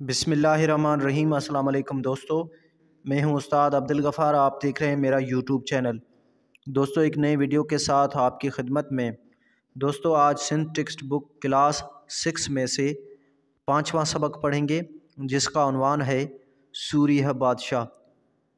بسم الله الرحمٰن الرحيم السلام عليڪم دوستو مين هون استاد عبدالغفار آپ ديکھ رهي ميرا يوٽيوب چينل دوستو هڪ نئي ويڊيو ڪي ساٿ آپ ڪي خدمت مين دوستو آج Sindh text book class six مين سي پانچوان سبق پڙهينگي جس ڪا عنوان هي سوريه بادشاھ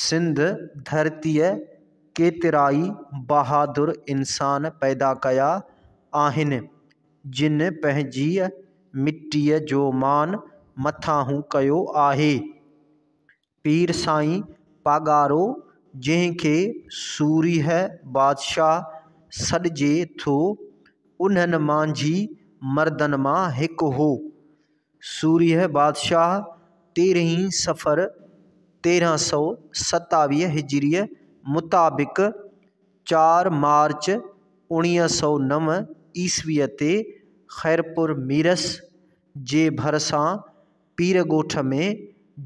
سنڌ ڌرتيء ڪيترائي بهادر انسان پيدا ڪيا آهن، جن پنهنجيء مٽيء جو مان مٿانهون ڪيو آهي. پير سائين پاڳارو، جنهن کي سورهيه بادشاهه سڏجي ٿو، انهن مانجهي مردن مان هڪ هو. سورهيه بادشاهه تيرهين صفر تيرهن سؤ ستاويهه هجريء مطابق چار مارچ اوڻيهه سؤ نو عيسويء تي خيرپور ميرس جي ڀرسان پير ڳوٺ ۾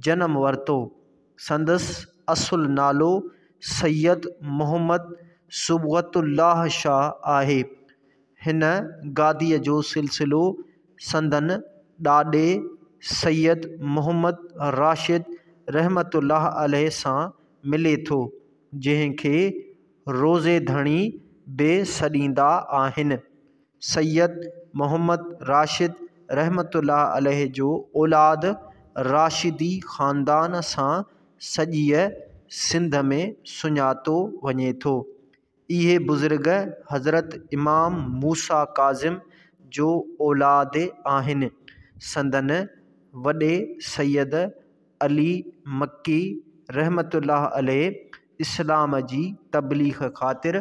جنم ورتو. سندس اصل نالو سيد محمد صبغت الله شاهه آهي. هن گاديء جو سلسلو سندن ڏاڏي سيد محمد راشد رحمة الله عليه سان ملي ٿو، جنهن کي روضي ڌڻي به سڏيندا آهن. سيد محمد راشد رحمة الله عليه جو اولاد راشدي خاندان سان سڄيء سنڌ ۾ سڃاتو وڃي ٿو. اهي بزرگ حضرت امام موسيٰ ڪاظم جو اولاد آهن. سندن وڏي سيد علي مڪي رحمة الله عليه اسلام جي تبليغ خاطر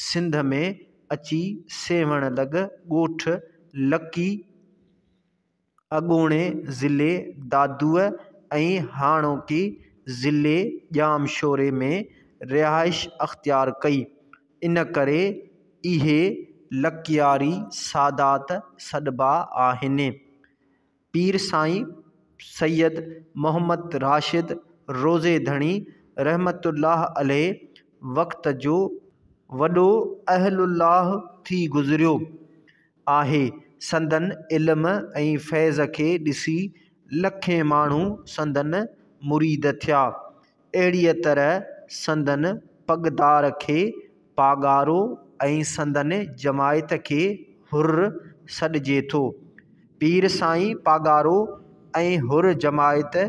سنڌ ۾ اچي سيوهڻ لڳ ڳوٺ لڪي، اڳوڻي ضلعي دادوء ۽ هاڻوڪي ضلعي ڄامشوري ۾ رهائش اختيار ڪئي ان ڪري اهي لڪياري سادات سڏبا آهن. پير سائين سيد محمد راشد روضي ڌڻي رحمة الله عليه وقت جو وڏو اهل الله ٿي گذريو. آهي، سندن علم ۽ فيض کي ڏسي لکين ماڻهو سندن مريد ٿيا، اهڙيء طرح سندن پڳدار کي پاڳارو ۽ سندن جماعت کي حر سڏجي ٿو. پير سائين پاڳارو ۽ حر جماعت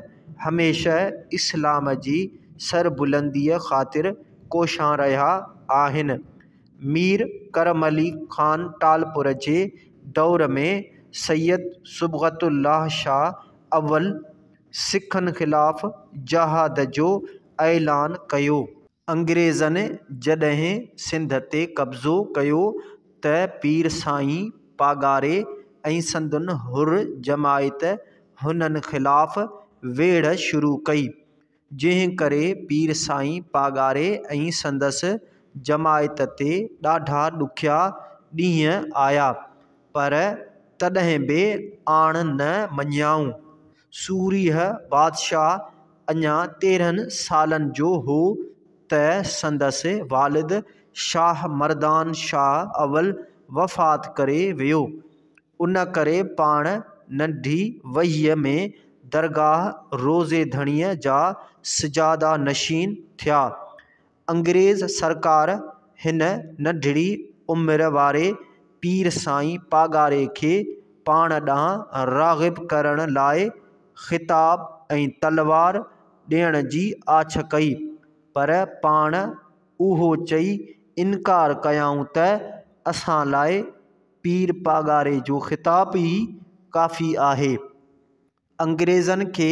هميشه اسلام جي سربلنديء خاطر ڪوشان رهيا آهن. مير ڪرم علي خان ٽالپر جي دور ۾ سيد صبغت الله شاهه اول سکن خلاف جهاد جو اعلان ڪيو. انگريزن جڏهن سنڌ تي قبضو ڪيو ته پير سائين پاڳاري ۽ سندن حر جماعت هنن خلاف ويڙهه شروع ڪئي. جنهن ڪري پير سائين پاڳاري ۽ سندس جماعت تي ڏاڍا ڏکيا ڏينهن آيا، پر تڏهن به آڻ نه مڃيائون. سورهيه بادشاهه اڃا تيرهن سالن جو هو ته سندس والد شاهه مردان شاهه اول وفات ڪري ويو. ان ڪري پاڻ ننڍي وهيء ۾ درگاهه روضي ڌڻيء جا سجاده نشين ٿيا. انگريز سرڪار هن ننڍڙي عمر واري پير سائين پاڳاري کي پاڻ ڏانهن راغب ڪرڻ لاء خطاب ۽ تلوار ڏيڻ جي آڇ ڪئي، پر پاڻ اهو چئي انڪار ڪيائون ته اسان لاء. پير پاڳاري جو خطاب ئي ڪافي آهي. انگريزن کي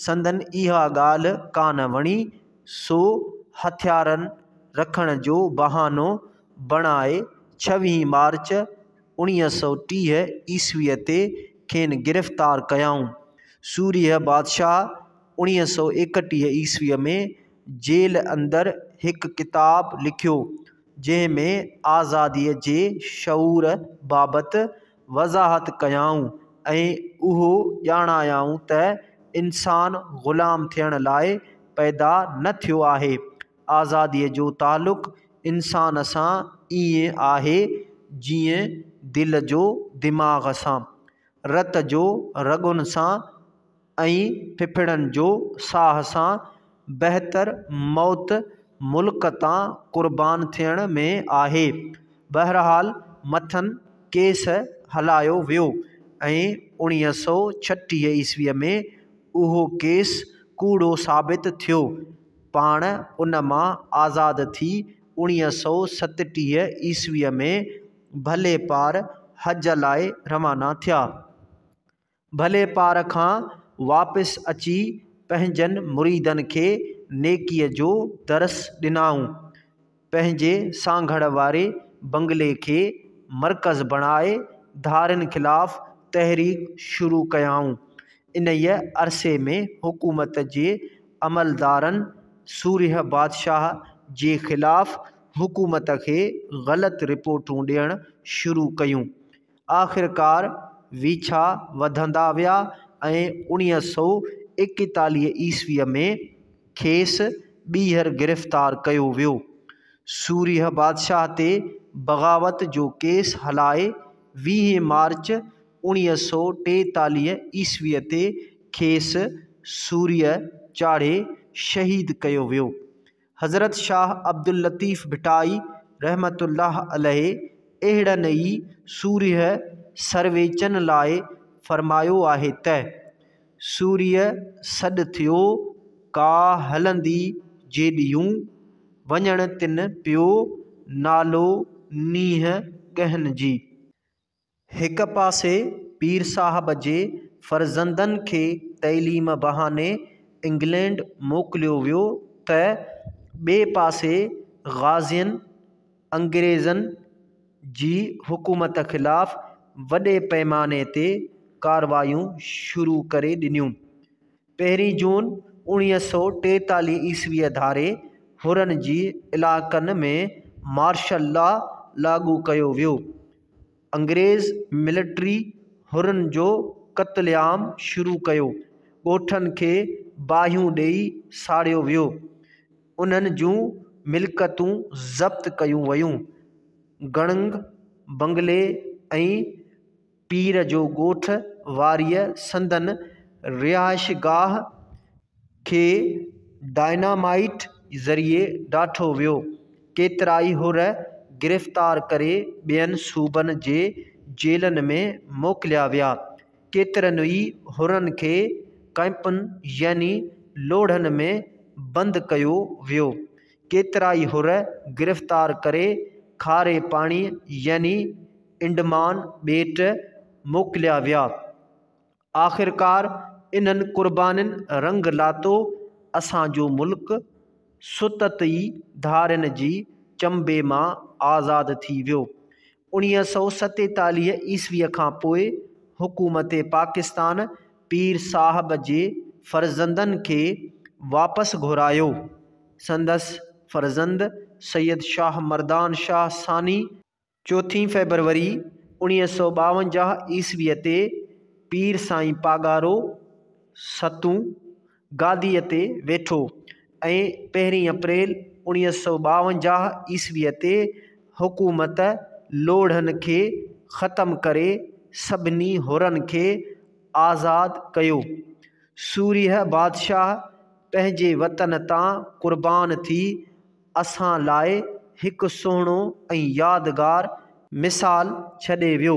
سندن اها ڳالهه ڪانه وڻي، سو هٿيارن رکڻ جو بهانو بڻائي ڇويهين مارچ اوڻيهه سؤ ٽيهه عيسويء تي کين گرفتار ڪيائون. سورهيه بادشاهه اوڻيهه سؤ ايڪٽيهه عيسويء ۾ جيل اندر هڪ ڪتاب لکيو، جنهن ۾ آزاديء جي شعور بابت وضاحت ڪيائون ۽ اهو ڄاڻايائون ته انسان غلام ٿيڻ لاء پيدا نه ٿيو آهي، آزاديء جو تعلق انسان سان ائين آهي جيئن دل جو دماغ سان، رت جو رڳن سان. ۽ ڦڦڙن جو ساهه سان بهتر موت ملڪ تان قربان ٿيڻ ۾ آهي. بهرحال مٿن ڪيس هلايو ويو ۽ اوڻيهه سؤ ڇٽيهه عيسويء ۾ اهو ڪيس ڪوڙو ثابت ٿيو. پاڻ ان مان آزاد ٿي اوڻيهه سؤ ستٽيهه عيسويء ۾ ڀلي پار حج لاء روانا ٿيا. ڀلي پار کان واپس اچي پنهنجن مريدن کي نيڪيء جو درس ڏنائون. پنهنجي سانگهڙ واري بنگلي کي مرڪز بڻائي ڌارين خلاف تحريڪ شروع ڪيائون. انهيء عرصي ۾ حڪومت جي عملدارن سورهيه بادشاهه جي خلاف حڪومت کي غلط رپورٽون ڏيڻ شروع ڪيون. آخرڪار ويڇا وڌندا ويا ۽ اڻيهه سؤ ايڪيتاليهه عيسويء ۾ کيس ٻيهر گرفتار ڪيو ويو. سورهيه بادشاهه تي بغاوت جو ڪيس هلائي ويهين مارچ اڻيهه سؤ ٽيتاليهه عيسويء تي کيس سورهيه چاڙهي شهيد ڪيو ويو. حضرت شاهه عبداللطيف ڀٽائي رحمة الله عليه اهڙن ئي سورهيه سرويچن لاء فرمايو آهي ته، سورهيه سڏ ٿيو ڪا هلندي جيڏيون، وڃڻ تن پيو نالو نينهن ڳهن جي. هڪ پاسي پير صاحب جي فرزندن کي تعليم بهاني انگلينڊ موڪليو ويو ته ٻئي پاسي غازين انگريزن جي حڪومت خلاف وڏي پئماني تي ڪارروايون شروع ڪري ڏنيون پهرين جون اوڻيهه سؤ ٽيتاليهه عيسويء ڌاري حرن جي علائقن ۾ مارشل لا لاڳو ڪيو ويو. انگريز ملٽري حرن جو قتل عام شروع ڪيو. ڳوٺن کي باهيون ڏيئي ساڙيو ويو. انهن جون ملڪتون ضبط ڪيون ويون. گڙنگ بنگلي ۽ پير جو ڳوٺ واريء سندن رهائشگاهه کي ڊائنامائيٽ ذريعي ڊاٺو ويو. ڪيترائي حر گرفتار ڪري ٻين صوبن جي جيلن ۾ موڪليا ويا. ڪيترن ئي حرن کي ڪئمپن يعني لوڙهن ۾ بند ڪيو ويو. ڪيترائي حر گرفتار ڪري کاري پاڻيء يعني انڊمان ٻيٽ موڪليا ويا. آخرڪار انهن قربانين رنگ لاتو اسان جو ملڪ ستت ئي ڌارين جي چنبي مان آزاد ٿي ويو. انيهه سؤ ستيتاليهه عيسويء کان پوء حڪومت پاڪستان پير صاحب جي فرزندن کي واپس گهرايو. سندس فرزند سيد شاهه مردان شاهه ثاني، چوٿين فيبروري انيهه سؤ ٻاونجاهه عيسويء تي پير سائين پاڳارو، ستون، گاديء تي ويٺو ۽ پهرين اپريل اوڻيهه سؤ ٻاونجاهه عيسويء تي حڪومت لوڙهن کي ختم ڪري سڀني حرن کي آزاد ڪيو. سورهيه بادشاهه پنهنجي وطن تان قربان ٿي اسان لاء هڪ سهڻو ۽ يادگار مثال ڇڏي ويو.